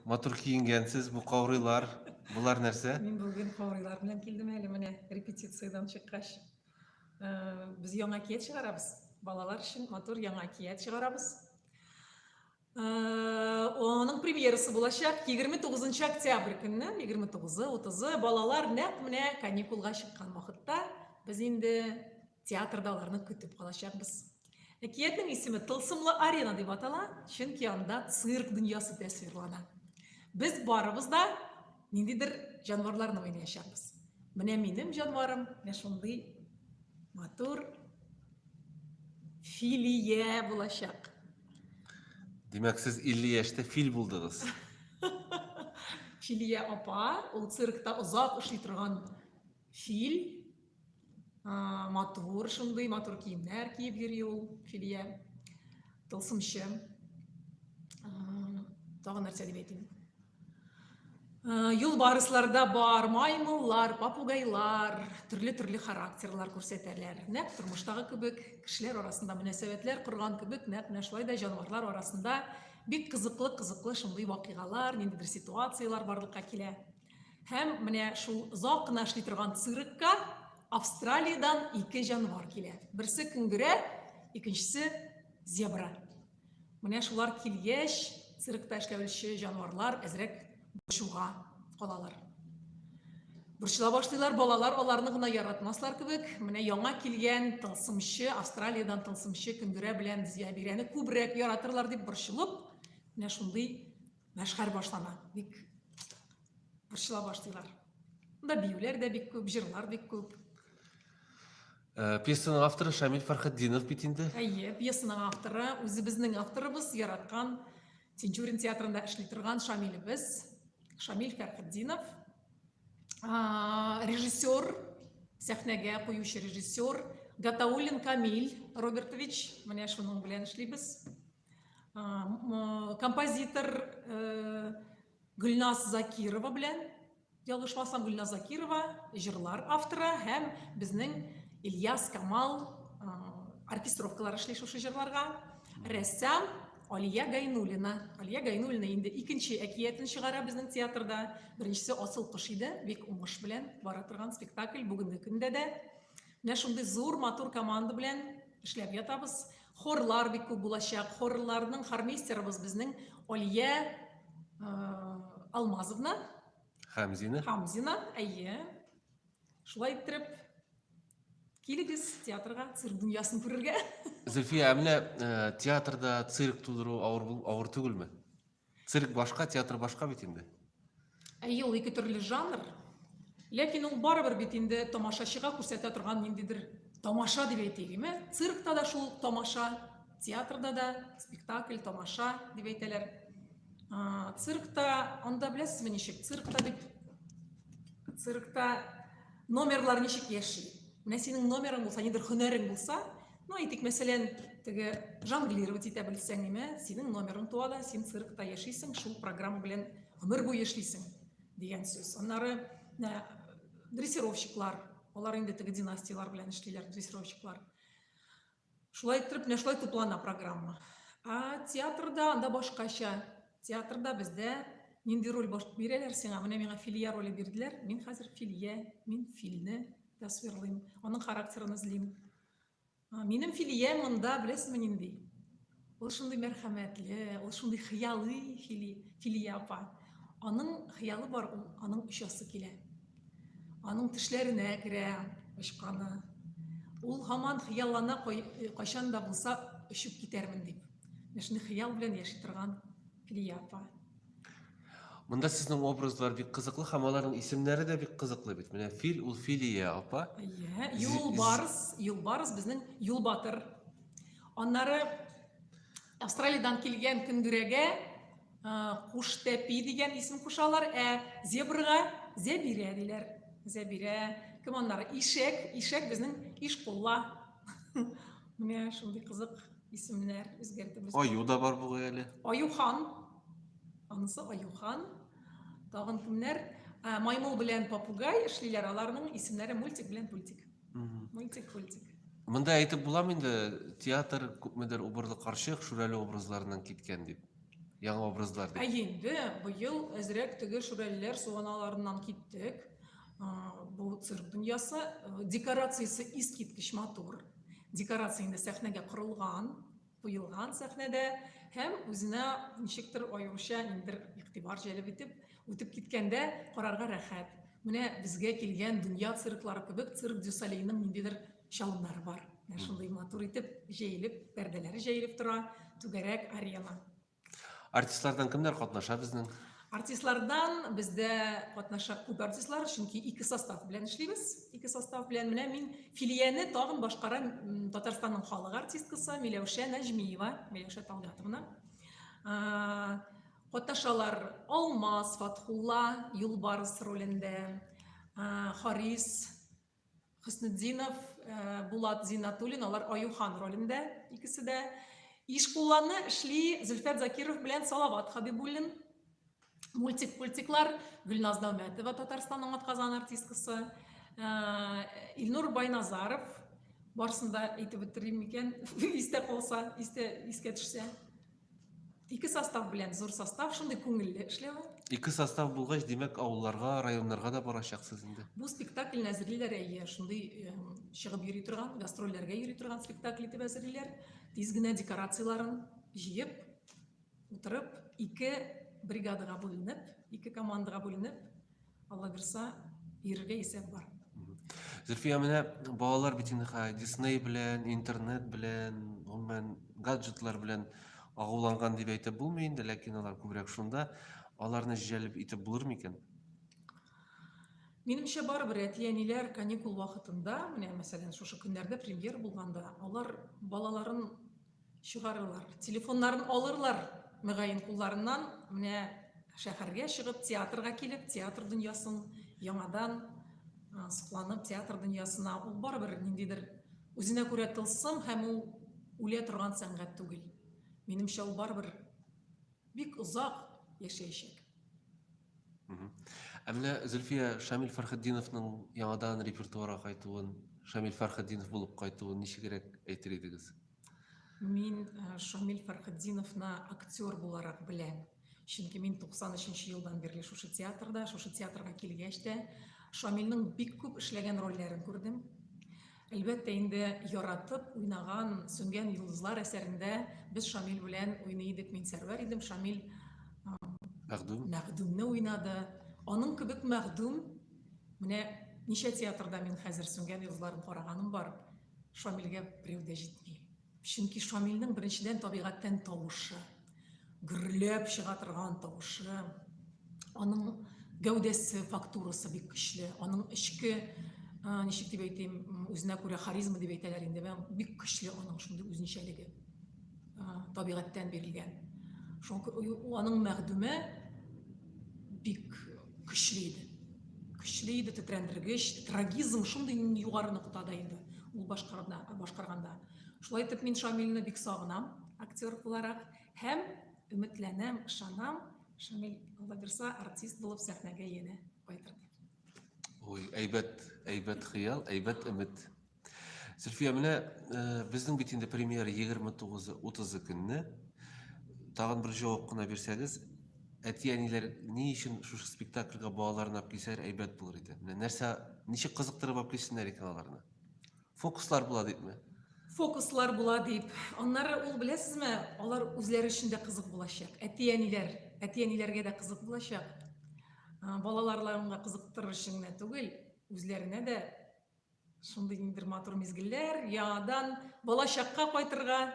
Матур киенгәнсез, бу каурыйлар, болар нәрсә? Мин бүген каурыйлар белән килдем әле менә репетициядән чыккач. Без яңа кият чыгарабыз. Балалар өчен матур яңа кият чыгарабыз. Оның премьерасы булачак 29 октябрь көнне, 29-ы, 30-ы балалар нәкъ менә каникулга чыккан вакытта без инде театрда аларны көтеп калачакбыз. Әкиятнең исеме Тылсымлы арена дип атала, чөнки анда цирк дөньясы тәсвирлана. Без барыбыз да ниндидер җанварларны уйнаячакбыз. Менә минем җанварым менә шундый матур филия булачак. Димәк, сез 50 яшьтә фил булдыгыз. Филия апа, ул циркта озак эшли торган фил, матур шундый матур киемнәр киеп йөри ул филия тылсымчы тагын нәрсә дип әйтим юлбарысларда бар маймыллар попугайлар төрле төрле характерлар күрсәтәләр нәкъ тормыштагы кебек кешеләр арасында мөнәсәбәтләр корган кебек нәкъ менә шулай да җанварлар арасында бик кызыклы кызыклы шундый вакыйгалар ниндидер ситуациялар барлыкка килә Һәм менә шул озак кына эшли торган циркка Австралиядән ике җанвар килә. Берсе көнгерә, икенчесе зебра. Менә шулар килгәч, циркта эшләүче җанварлар әзрәк борчуга калалар. Борчыла башлыйлар, балалар аларны гына яратмаслар кебек. Менә яңа килгән тылсымчы, Австралиядән тылсымчы көнгерә белән зебраны күбрәк яратырлар дип борчылып, менә шундый Мәшхәр башлама. Бик борчыла башлыйлар. Монда биюләр дә бик күп, җырлар бик күп. Э, пьесаның авторы Шамил Фархетдинов бит инде. Әйе, пьесаның авторы үзебезнең авторыбыз яраткан Тинчурин театрында эшли торган Шамилебез, Шамил Фәрхетдинов. Режиссер, сәхнәгә куючы режиссер Гатаулин Камиль Робертович, менә шуның белән эшлибез. Э, композитор э, гүлназ закирова белән ялгышмасам гүлназ закирова җырлар авторы һәм безнең ильяс камал э, оркестровкалар эшли шушы җырларга рәссам алия гайнуллина алия гайнуллина инде икенче әкиятен чыгара безнең театрда беренчесе асыл кош иде бик уңыш белән бара торган спектакль бүгенге көндә дә менә шундый зур матур команда белән эшләп ятабыз Хорлар бик күп булачак. Хорларның хормейстерыбыз безнең Алия Алмазовна. Хамзина. Хамзина, әйе. Шулай иттереп, килегез театрга, цирк дөньясын күрергә. Зөлфия, ә менә театрда цирк тудыру авыр, авыр түгелме? Цирк башка, театр башка бит инде. Әйе, ул ике төрле жанр. Ләкин ул барыбер бит инде тамашачыга күрсәтә торган ниндидер тамаша дип әйтәйем, ә? Циркта да шул тамаша, театрда да спектакль, тамаша дип әйтәләр. Циркта, анда беләсезме ничек? Циркта бит циркта номерлар ничек яши? Менә синең номерың булса, нидер һөнәрең булса, Ну, әйтик, мәсәлән, теге жонглировать итә белсәң, нимә, синең номерың туа да, син циркта яшисең, шул программа белән гомер буе эшлисең дигән сүз. Аннары ә, дрессировщиклар, алар инде теге династияләр белән эшлиләр, дрессировщиклар. Шулай итеп, менә шулай туплана программа. А театрда анда башкача. Театрда бездә нинди роль баш бирәләр сиңа? Менә миңа Филия роле бирделәр. Мин хәзер Филия, мин Филне тасвирлыйм, аның характерын эзлим. Минем Филия монда, беләсезме, нинди? Ул шундый мәрхәмәтле, ул шундый хыялый Фили, Филия апа. Аның хыялы бар, ул аның очасы килә. Аның тешләренә керә очканы. Ул һаман хыяллана кайчан да булса очып китәрмен дип. Менә шундый хыял белән яши торган Филия апа. Монда сезнең образлар бик кызыклы һәм аларның исемнәре дә бик кызыклы бит. Менә фил ул Филия апа. Иә, юлбарыс, юлбарыс безнең юлбатыр. Аннары Австралиядан килгән көндүрәгә куштәпи дигән исем кушалар, ә зебрга зәбирә диләр. Зәбирә. Кем аннары? Ишәк, ишәк безнең ишкулла. Менә шундый кызык исемнәр үзгәртеп. Аю да бар бугай әле. Аюхан. Анысы Аюхан. Тагын кемнәр? Ә, маймыл белән попугай эшлиләр. Аларның исемнәре мультик белән пультик. Мультик, пультик. Монда әйтеп буламы инде театр күпмедер убырлы карчык, шүрәле образларыннан киткән дип. Яңа образлар дип. Ә инде быел әзрәк теге шүрәлеләр суаналарыннан киттек. Бу цирк дөньясы, декорациясе искиткеч матур. Декорация инде сәхнәгә корылган, куелган сәхнәдә һәм үзенә ничектер аеруча ниндер игътибар җәлеп итеп үтеп киткәндә карарга рәхәт. Менә безгә килгән дөнья цирклары кебек цирк дю Солейның ниндидер чалымнары бар. Менә шундый матур итеп җәелеп, пәрдәләре җәелеп тора, түгәрәк арена. Артистлардан кемнәр катнаша безнең? Артистлардан бездә катнаша күп артистлар, чөнки ике состав белән эшлибез. Ике состав белән менә мин филияне тагын башкара Татарстанның халык артисткасы Миләүшә Нәҗмиева, Миләүшә Талгатовна. Катнашалар Алмаз Фатхулла, Юлбарыс ролендә, Харис Хөснетдинов, Булат Зиннатуллин, алар Аюхан ролендә икесе дә. Ишкулланы эшли Зөлфәт Закиров белән Салават Хабибуллин. Мультик-пультиклар Гөлназ Нәүмәтова, Татарстанның атказан артисткасы. Илнур Байназаров, барысын да әйтеп бетерим микән, истә калса, истә, искә төшсә. Ике состав белән зур состав шундый күңелле эшләве. Ике состав булгач, димәк, авылларга, районнарга да барачаксыз инде. Бу спектакльне әзерлиләр әйе, шундый чыгып йөри торган, гастрольләргә йөри торган спектакль итеп әзерлиләр. Тиз генә декорацияләрен җыеп, утырып, ике бригадага бүленеп, ике командага бүленеп, Алла бирса, бирергә исәп бар. Зөлфия, менә балалар бит инде хәзер Дисней белән, интернет белән, гомумән гаджетлар белән агуланган дип әйтеп булмый инде, ләкин алар күбрәк шунда. Аларны җәлеп итеп булыр микән? Минемчә барыбер әти-әниләр каникул вакытында, менә мәсәлән, шушы көннәрдә премьер булганда, алар балаларын Чыгарырлар. Телефоннарын алырлар, мөгаен, кулларыннан, менә шәһәргә чыгып, театрга килеп, театр дөньясын яңадан сокланып, театр дөньясына ул барыбер ниндидер үзенә күрә тылсым һәм ул үлә торган сәнгать түгел. Минемчә, ул барыбер Бик озак яшәячәк. Ә менә Зөлфия Шамил Фәрхетдиновның яңадан репертуарга кайтуын, Шамил Фәрхетдинов булып кайтуын ничегрәк әйтер идегез? Мин э, Шамил Фәрхетдиновны актер буларак беләм. Чөнки мин 93 елдан бирле шушы театрда, шушы театрга килгәч тә Шамилнең бик күп эшләгән рольләрен күрдем. Әлбәттә инде, яратып уйнаган Сүнгән йолдызлар әсәрендә без Шамил белән уйный идек. Мин Сәрвәр идем, Шамил Мәгъдүм. Мәгъдүмне уйнады. Аның кебек Мәгъдүм менә ничә театрда мин хәзер Сүнгән йолдызларын караганым бар. Шамилгә берәү дә җитми. Чөнки Шамилнең беренчедән табигатьтән тавышы, гөрләп чыга торган тавышы, аның гәүдәсе, фактурасы бик көчле, аның эчке ничек дип әйтим, үзенә күрә харизма дип әйтәләр инде, бик көчле аның шундый үзенчәлеге табигатьтән бирелгән. Шуңа аның мәгъдүме бик Көчле иде. Көчле иде, тетрәндергеч, трагизм шундый югары ноктада инде ул башкарганда, башкарганда. Шулай итеп мин Шамилне бик сагынам, актер буларак һәм өметләнәм, ышанам, Шамил Владирса артист булып сәхнәгә яне кайтыр. Ой, әйбәт, әйбәт хыял, әйбәт өмет. Зөлфия, менә э, безнең бит инде премьера 29-30 көнне. Тагын бер җавап кына бирсәгез, әти-әниләр ни өчен шушы спектакльгә балаларын алып килсәләр әйбәт булыр иде. Менә нәрсә, ничек кызыктырып алып килсеннәр икән аларны? Фокуслар була дипме? Фокуслар була дип. Аннары ул беләсезме, алар үзләре өчен дә кызык булачак. Әти-әниләр, әти-әниләргә дә кызык булачак. Балаларларыңа кызыктырыр өчен генә түгел, үзләренә дә Шундый ниндер матур мизгелләр, яңадан балачакка кайтырга,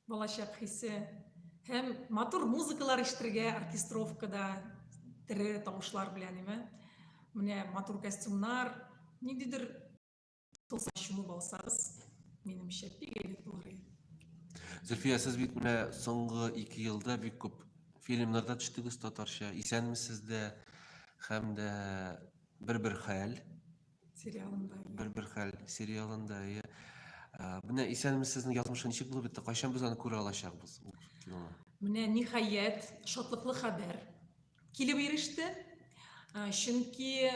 балачак хисе һәм матур музыкалар ишетергә оркестровкада тере тавышлар белән име. Менә матур костюмнар, ниндидер тылсым чуму балсагыз, минемчә, бик әйбәт булыр иде. Зөлфия, сез бит менә соңгы ике елда бик күп фильмнарда төштегез татарча. Исәнмесез дә һәм дә бер-бер хәл. Сериалында. Бер-бер хәл сериалында, иә. Менә исәнмесез сезнең язмышы ничек булып бетте? Кайчан без аны күрә алачакбыз? Менә ниһаять шатлыклы хәбәр килеп иреште. Чөнки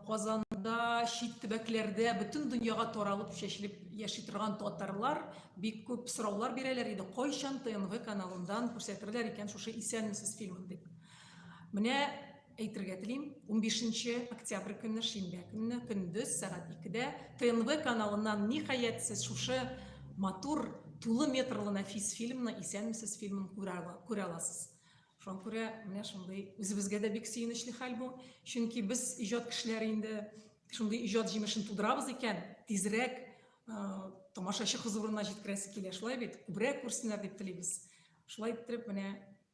Казанда, чит төбәкләрдә бөтен дөньяга таралып чәчелеп яши торган татарлар бик күп сораулар бирәләр иде, кайчан ТНВ каналыннан күрсәтерләр икән шушы Исәнмесез фильмын дип. Менә Әйтергә телим, унбишенче октябрь көнне, шимбә көнне, көндез сәгать икедә ТНВ каналыннан, ниһаять, сез шушы матур, тулы метрлы нәфис фильмны, Исәнмесез фильмын күрә аласыз. Шуңа күрә менә шундый үзебезгә дә бик сөенечле хәл бу. Чөнки без, иҗат кешеләре, инде шундый иҗат җимешен тудырабыз икән, тизрәк тамашачы хозурына җиткерәсе килә, шулай бит? Күбрәк күрсеннәр дип телибез. Шулай иттереп, менә